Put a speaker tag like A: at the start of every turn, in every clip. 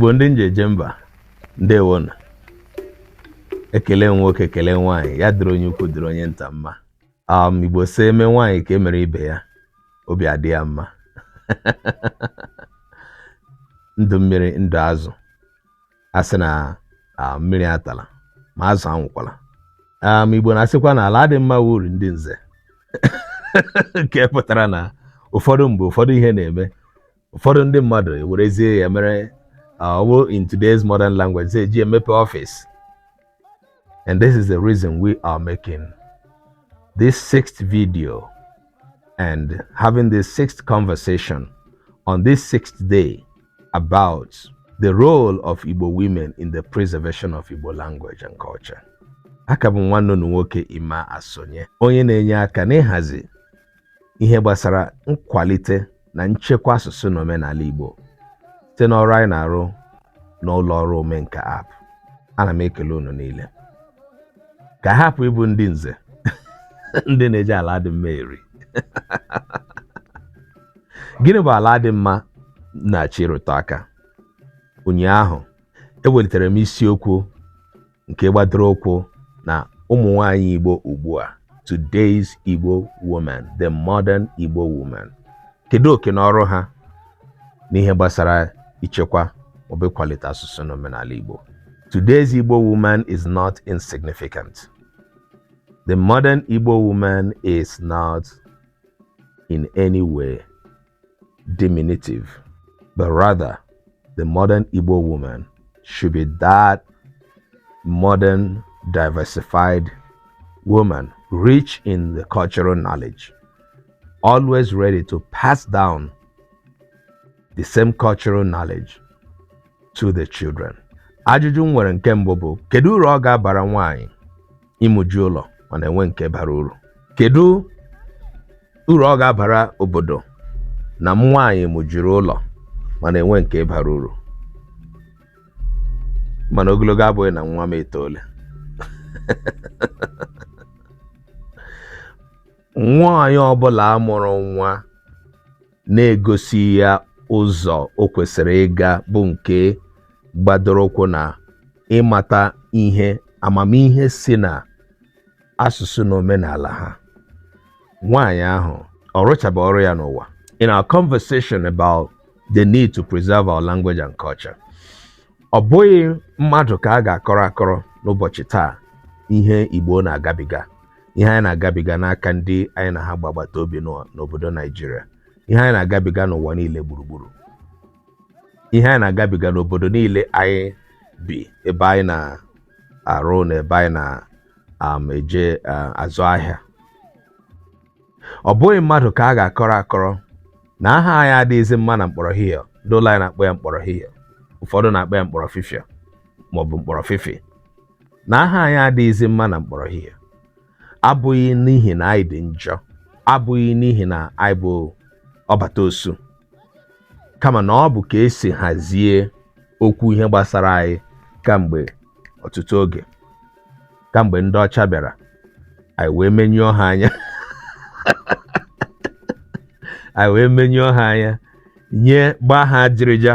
A: igbo ndị nje eje mba ndewonụ ekele nwoke ekele nwaanyị ya dịrị onye ukwu dịrị onye nta mma um, igbo sị e mee nwaanyị ka e mere ibe ya obi adị ya mma ndụ mmiri ndụ azụ a sị na mmiri atala ma azụ anwụkwala um, igbo na-asịkwa na ala adịghị mma wụ uru ndị nze nke pụtara na ụfọdụ mgbe ụfọdụ ihe na-eme ụfọdụ ndị mmadụ ewerezie ya mere ọ wụ uh, in today's modern language sị e ji emepe office and this is the reason we are making this sixth video and having this sixth conversation on this sixth day about the role of Igbo women in the preservation of Igbo language and culture. aka m bụ nwanne unu nwoke Emma Asonye onye na-enye aka n'ịhazi ihe gbasara nkwalite na nchekwa asụsụ na omenala Igbo site n'ọrụ anyị na-arụ n'ụlọ ọrụ omenka app ana m ekele unu niile ka a hapụ ịbụ ndị nze ndị na-eji ala adịghị mma eri gịnị bụ ala adịghị mma m na-achọ ịrụtụ aka ụnyaahụ ewelitere m isiokwu nke gbadoro ụkwụ na ụmụ nwaanyị Igbo ugbu a today's Igbo woman the modern Igbo woman kedu oke na ọrụ ha n'ihe gbasara ichekwa maọbụ ịkwalite asụsụ na omenala Igbo today's Igbo woman is not insignificant the modern Igbo woman is not in any way diminutive, but rather the modern Igbo woman should be that modern, diversified woman, rich in the cultural knowledge, always ready to pass down the same cultural knowledge to the children. Ajụjụ m nwere nke mbụ bụ kedu uru ọ ga-abara nwaanyị ịmụju ụlọ mana enweghị nke bara uru kedu uru ọ ga-abara obodo na nwaanyị mụjuru ụlọ mana enweghị nke bara uru mana ogologo abụghị na nwa m etoole nwaanyị ọbụla a mụrụ nwa na-egosi ya ụzọ o kwesịrị ịga bụ nke gbadoro ụkwụ na ịmata ihe amamihe si na asụsụ na omenala ha nwaanyị ahụ ọ rụchaba ọrụ ya n'ụwa in our conversation about the need to preserve our language and culture ọ bụghị mmadụ ka a ga-akọrọ akọrọ n'ụbọchị taa ihe Igbo na-agabiga ihe anyị na-agabiga n'aka ndị anyị na ha gba agbata obi nọ n'obodo naijiria ihe anyị na-agabiga n'ụwa niile gburugburu ihe anyị na-agabiga n'obodo niile anyị bi ebe anyị na-arụ na ebe anyị na-eje azụ ahịa ọ bụghị mmadụ ka a ga-akọrọ akọrọ na aha anyị adịghịzi mma na mkpọrọ hihie ndị ụlọ anyị na-akpọ ya mkpọrọ hihie ụfọdụ na-akpọ ya mkpọrọ fifia maọbụ mkpọrọ fifi na aha anyị adịghịzi mma na mkpọrọ hihie abụghị n'ihi na anyị dị njọ abụghị n'ihi na anyị bụ ọbata osu kama na ọ bụ ka e si hazie okwu ihe gbasara anyị kamgbe ọtụtụ oge kamgbe ndị ọcha bịara anyị wee menyụọ ha anya anyị wee menyụọ ha anya nye gbaa ha ajịrịja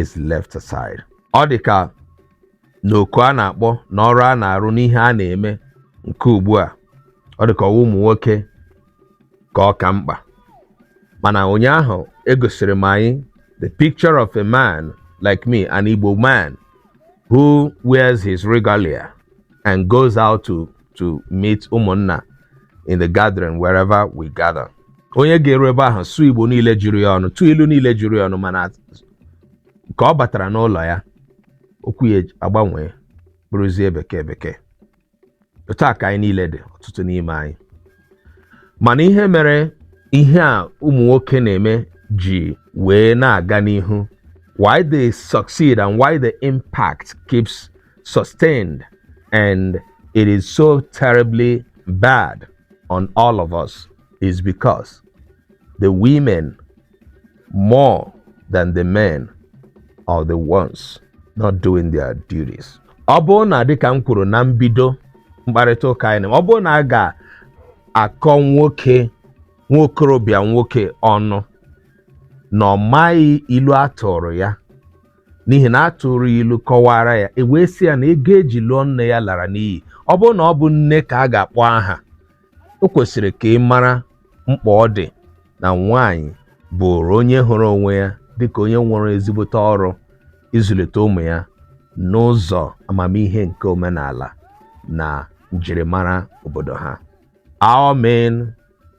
A: is left aside. Ọ dị ka na oku a na-akpọ na ọrụ a na-arụ n'ihe a na-eme nke ugbu a ọ dị ka ọ wụ ụmụ nwoke ka ọ ka mkpa mana ụnyaahụ egosiri m anyị the picture of a man like me an Igbo man who wears his regalia and goes out to meet ụmụnna in the gathering wherever we gather onye ga-eru ebe ahụ sụọ igbo niile juru ya ọnụ tụọ ilu niile juru ya ọnụ mana ka ọ batara n'ụlọ ya okwu ya agbanwee bụrụzie bekee bekee otu a ka anyị niile dị ọtụtụ n'ime anyị mana ihe mere ihe a ụmụ nwoke na-eme ji wee na-aga n'ihu why they succeed and why the impact keeps sustained and it is so terribly bad on all of us is because the women more than the men are the ones not doing their duties. ọ bụrụ na dịka m kwuru na mbido mkparịta ụka anyị ọ bụrụ na a ga-akọ nwoke nwokorobịa nwoke ọnụ na ọ maghị ilu a tụrụ ya n'ihi na a tụrụ ya ilu kọwaara ya e wee sị ya na ego e ji lụọ nne ya lara n'iyi ọ bụrụ na ọ bụ nne ka a ga-akpọ aha o kwesịrị ka ị mara mkpa ọ dị na nwaanyị bụrụ onye hụrụ onwe ya dịka onye nwere ezigbote ọrụ ịzụlite ụmụ ya n'ụzọ amamihe nke omenala na njirimara obodo ha I mean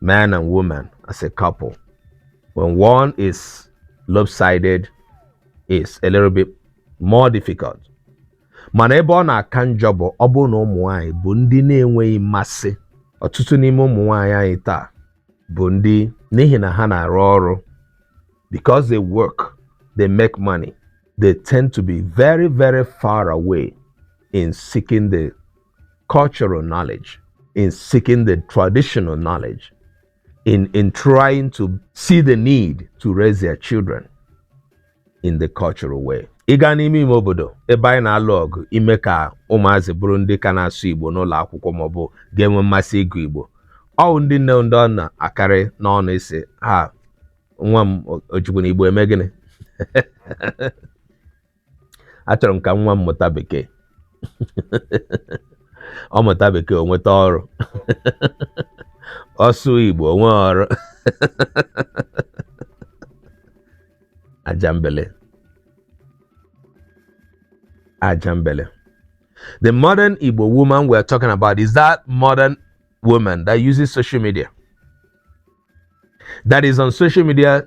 A: man and woman as a couple. When one is lopsided, it's a little bit more difficult. mana ebe ọ na-aka njọ bụ ọ bụrụ na ụmụ nwanyị bụ ndị na-enweghị mmasị ọtụtụ n'ime ụmụ nwanyị anyị taa bụ ndị n'ihi na ha na-arụ ọrụ because they work they make money they tend to be very very far away in seeking the cultural knowledge, in seeking the traditional knowledge, in, in trying to see the need to raise their children in the cultural way. ị gaa n'ime ime obodo ebe anyị na-alụ ọgụ ime ka ụmụazị bụrụ ndị ka na-asụ igbo n'ụlọ akwụkwọ maọbụ ga-enwe mmasị ịgụ igbo ọ wụ ndị nne ndị ọ na-akarị n'ọnụ ịsị ha nwa m o jikwanụ igbo eme gịnị achọrọ m ka nwa m mụta bekee ọ mụta bekee o nweta ọrụ ọ sụọ igbo o nwee ọrụ ajambele ajambele the modern igbo woman we are talking about is that modern woman that uses social media that is on social media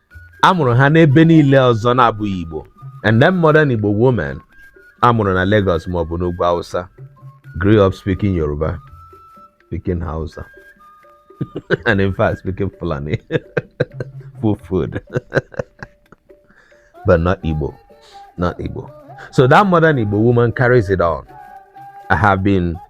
A: a mụrụ ha n'ebe niile ọzọ na-abụghị Igbo and then modern Igbo woman a mụrụ na Lagos ma ọ bụ n'ugwu Hausa grew up speaking Yoruba speaking Hausa and in fact speaking Fulani Fulfulde but not Igbo not Igbo so that modern Igbo woman carries it on I have been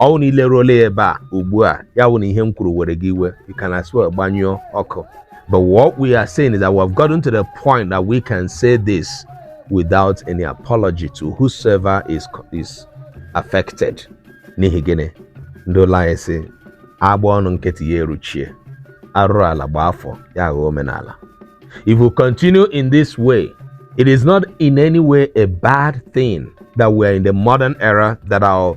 A: ọ wụ na i leruola ya ebe a ugbu a ya wụ na ihe m kwuru were gị iwe you can as well gbanyụọ ọkụ but what we are saying is that we have gotten to the point that we can say this without any apology to whosoever is, is affected n'ihi gịnị ndị ụlọ anyị sị a gbaa ọnụ nkịtị ya eruchie arụrụala gbaa afọ ya aghọọ omenala if we continue in this way it is not in any way a bad thing that we are in the modern era that our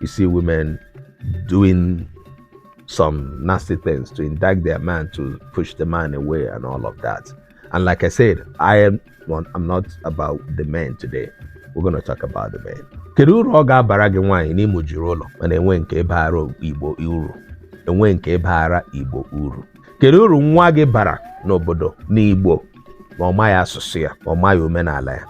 A: you see women doing some nasty things to indict their man to push the man away and all of that. And like I said, I am not, I'm not about the men today. We're going to talk about the men. kedu uru ọ ga-abara gị nwaanyị na ị mụjiri ụlọ mana enwe nke baara igbo uru enwe nke baara igbo uru kedu uru nwa gị bara n'obodo n'Igbo ma ọ maghị asụsụ ya ma ọ maghị omenala ya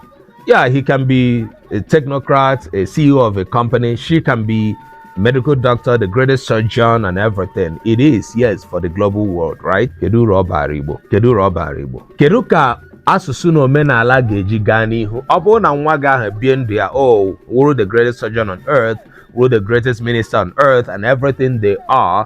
A: yeah he can be a technocrat a CEO of a company she can be medical doctor the greatest surgeon and everything it is yes for the global world right kedu uru ọ baara Igbo kedu uru ọ baara Igbo kedu ka asụsụ na omenala ga-eji gaa n'ihu ọ bụrụ na nwa gị ahụ bie ndụ ya o wụrụ the greatest surgeon on earth wụrụ the greatest minister on earth and everything they are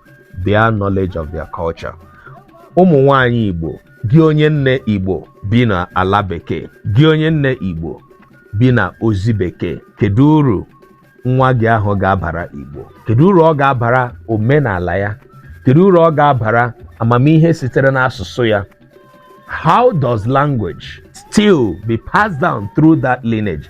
A: their knowledge of their culture. Ụmụ nwanyị Igbo, gị onye nne Igbo bi na ala bekee, gị onye nne Igbo bi na ozi bekee, kedu uru nwa gị ahụ ga-abara Igbo? Kedu uru ọ ga-abara omenala ya? Kedu uru ọ ga-abara amamihe sitere n'asụsụ ya? How does language still be passed down through that lineage?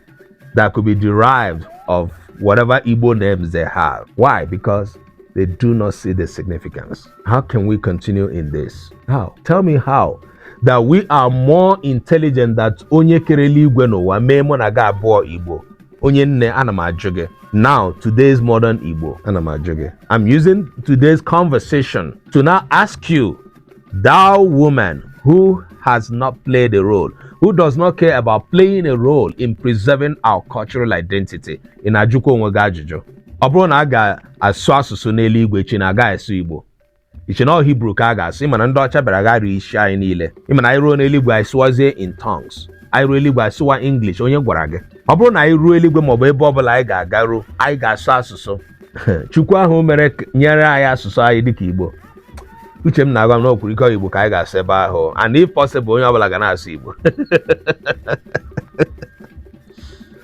A: that could be derived of whatever Igbo names they have. Why? Because they do not see the significance. How can we continue in this? How? Tell me how. That we are more intelligent than onye kerele igwe n'ụwa mee mụ na gị abụọ Igbo. Onye nne ana m ajụ gị. Now, today's modern Igbo ana m ajụ gị. I'm using today's conversation to now ask you Thou woman who has not played a role, who does not care about playing a role in preserving our cultural identity, ị na-ajụkwa onwe gị ajụjụ. Ọ bụrụ na a ga-asụ asụsụ n'eluigwe iche na a gaghị asụ Igbo. Iche na ọ Hibru ka a ga-asụ, ịma na ndị ọcha bịara gharịa isi anyị niile. Ịma na anyị ruo n'eluigwe anyị sụwazie in tongues. Anyị ruo eluigwe anyị sụwa English, onye gwara gị? Ọ bụrụ na anyị ruo eluigwe maọbụ ebe ọ bụla anyị ga-agaru, anyị ga-asụ asụsụ. chukwu ahụ mere k- nyere anyị asụsụ anyị dịka igbo uche m na-agwa m na okwuru ike igbo ka anyị ga-asụ ebe ahụ and if possible onye ọbụla ga na-asụ igbo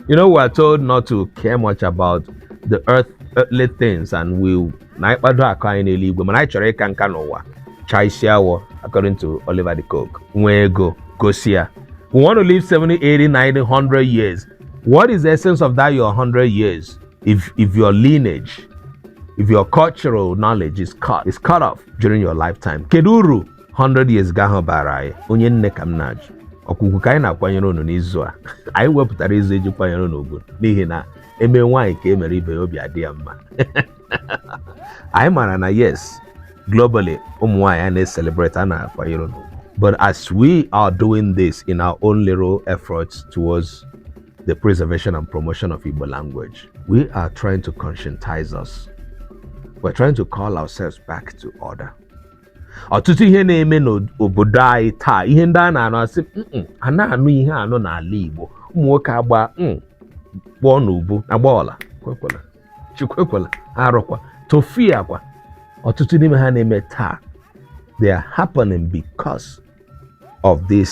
A: you know we are told not to care much about the earth earthly things and we na anyị kpado akụ anyị n'eluigwe mana anyị chọrọ ịka nka n'ụwa chaa isi awọ according to Oliver de Coque nwee ego gosi ya we want to live 70 80 90 100 years what is the essence of that your 100 years if if your lineage if your cultural knowledge is cut is cut off during your lifetime kedu uru 100 years gị ahụ bara anyị onye nne ka m na-ajụ ọkwa ugwu ka anyị na-akwanyere unu n'izu a anyị wepụtara izu eji kwanyere unu ugwu n'ihi na eme nwaanyị ka e mere ibe ya obi adị ya mma anyị maara na yes globally ụmụ nwaanyị a na-eselebrate a na-akwanyere unu ugwu but as we are doing this in our own little efforts towards the preservation and promotion of Igbo language. We are trying to conscientize us. We're trying to call ourselves back to order. ọtụtụ ihe na-eme n'obodo anyị taa ihe ndị a na-anụ asị a na-anụ ihe anụ n'ala Igbo ụmụ nwoke agba mm, kpọọ n'ubu agbala ekwekwela chi ekwekwela arụkwa tofiakwa ọtụtụ n'ime ha na-eme taa they are happening because of this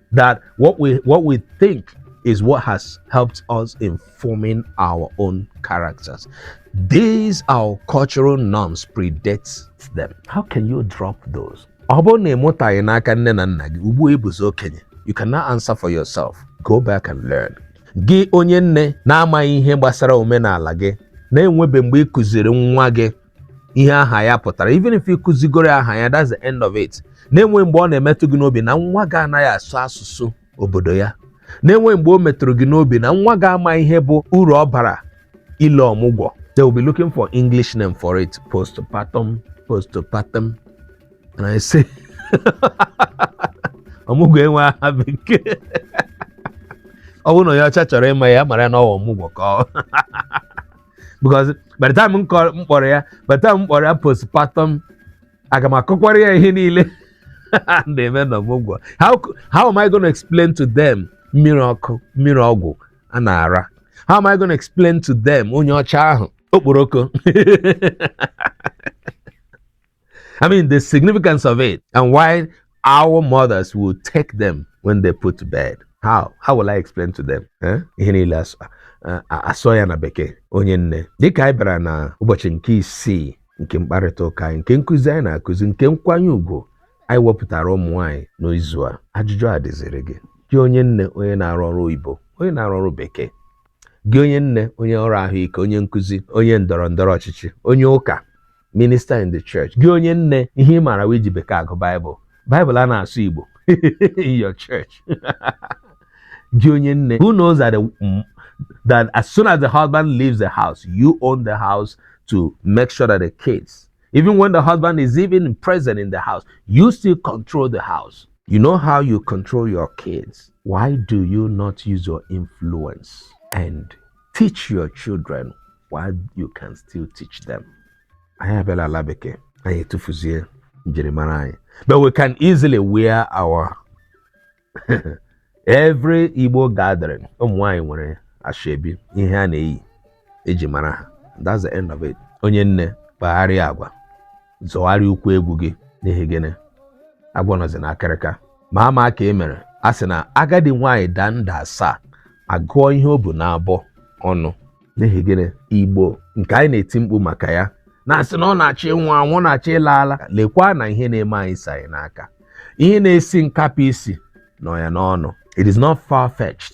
A: that what we what we think is what has helped us in forming our own characters. These our cultural norms predates them. How can you drop those? ọ bụrụ na ị mụtaghị n'aka nne na nna gị ugbu ị bụzi okenye you can now answer for yourself go back and learn gị onye nne na-amaghị ihe gbasara omenala gị na-enwebe mgbe ị kụziri nwa gị ihe aha ya pụtara even if ị kụzigoro aha ya that's the end of it na-enweghị mgbe ọ na-emetụ gị n'obi na nwa gị anaghị asụ asụsụ obodo ya na-enweghị mgbe o metụrụ gị n'obi na nwa gị ama ihe bụ uru ọ bara ile ọmụgwọ they will be looking for english name for it postpartum postpartum and i say ọmụgwọ enwe aha bekee ọ bụrụ na onye ọcha chọrọ ịma ya mara na ọ wụ ọmụgwọ ka ọ because by the time m kọ- m kpọrọ ya by the time m kpọrọ ya postpartum aga m akọkwara ya ihe niile a na-eme na ọmụgwọ how, c- how am I gonna explain to them mmiri ọkụ mmiri ọgwụ a na-ara how am I gonna explain to them onye ọcha ahụ okporoko I mean, the significance of it and why our mothers will take them when they put to bed. How? How will I explain to them? Eh? Ihe niile a sụọ ya na bekee onye nne dịka anyị bịara na ụbọchị nke isii nke mkparịta ụka anyị nke nkụzi anyị na-akụzi nke nkwanye ugwu anyị wepụtara ụmụ nwaanyị n'izu a ajụjụ a dịziri gị gị onye nne onye na-arụ ọrụ oyibo onye na-arụ ọrụ bekee gị onye nne onye ọrụ ahụike onye nkụzi onye ndọrọ ndọrọ ọchịchị onye ụka minister in the church gị onye nne ihe ị maara wee ji bekee agụ baịbụl baịbụl a na-asụ igbo in your church gị onye nne who knows that, the, that as soon as the husband leaves the house you own the house to make sure that the kids even when the husband is even present in the house you still control the house you know how you control your kids why do you not use your influence and teach your children while you can still teach them anyị abịala ala bekee anyị etufuzie njirimara anyị but we can easily wear our every Igbo gathering ụmụ nwaanyị nwere ashebi ihe a na-eyi e ji mara ha that's the end of it onye nne kpagharịa agwa zọgharịa ụkwụ egwu gị n'ihi gịnị agwọ nọzi n'akịrịka ma ama ka e mere a sị na agadi nwaanyị daa nda asaa a gụọ ihe o bu n'abọ ọnụ n'ihi gịnị igbo nke anyị na-eti mkpu maka ya na-asị na ọ na-achọ ịnwụ anwụ na-achọ ịla ala lekwa na ihe na-eme anyị si anyị n'aka ihe na-esi nkapị isi nọ ya n'ọnụ it is not far fetched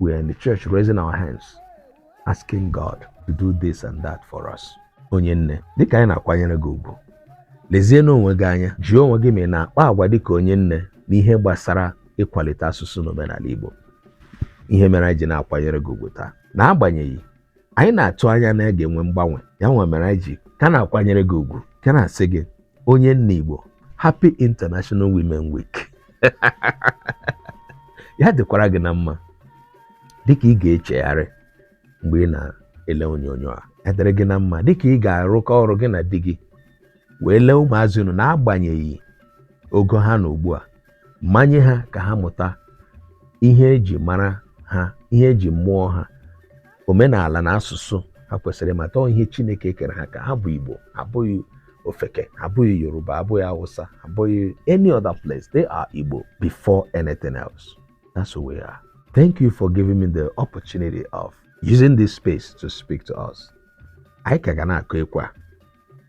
A: we are in the church raising our hands asking God to do this and that for us onye nne dịka anyị na-akwanyere gị ugwu lezie n'onwe gị anya jụọ onwe gị ma ị na-akpa agwa dịka onye nne n'ihe gbasara ịkwalite asụsụ na omenala Igbo ihe mere anyị ji na-akwanyere gị ugwu taa n'agbanyeghị anyị na-atụ anya na a ga-enwe mgbanwe ya nwa mere anyị ji ka na-akwanyere gị ugwu ka na-asị gị onye nne Igbo Happy International Women Week ya dịkwara gị na mma dịka ị ga-echegharị mgbe ị na-ele onyonyo a ya dịrị gị na mma dịka ị ga-arụkọ ọrụ gị na di gị wee lee ụmụazị unu n'agbanyeghị ogo ha na ugbu a manye ha ka ha mụta ihe eji mara ha ihe eji mụọ ha omenala na asụsụ ha kwesịrị ịmata ihe Chineke kere ha ka ha bụ Igbo abụghị ofeke abụghị Yoruba abụghị Hausa abụghị any other place they are Igbo before anything else that's who we are thank you for giving me the opportunity of using this space to speak to us anyị ka ga na-akụ ekwe a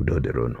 A: udo dịrị unu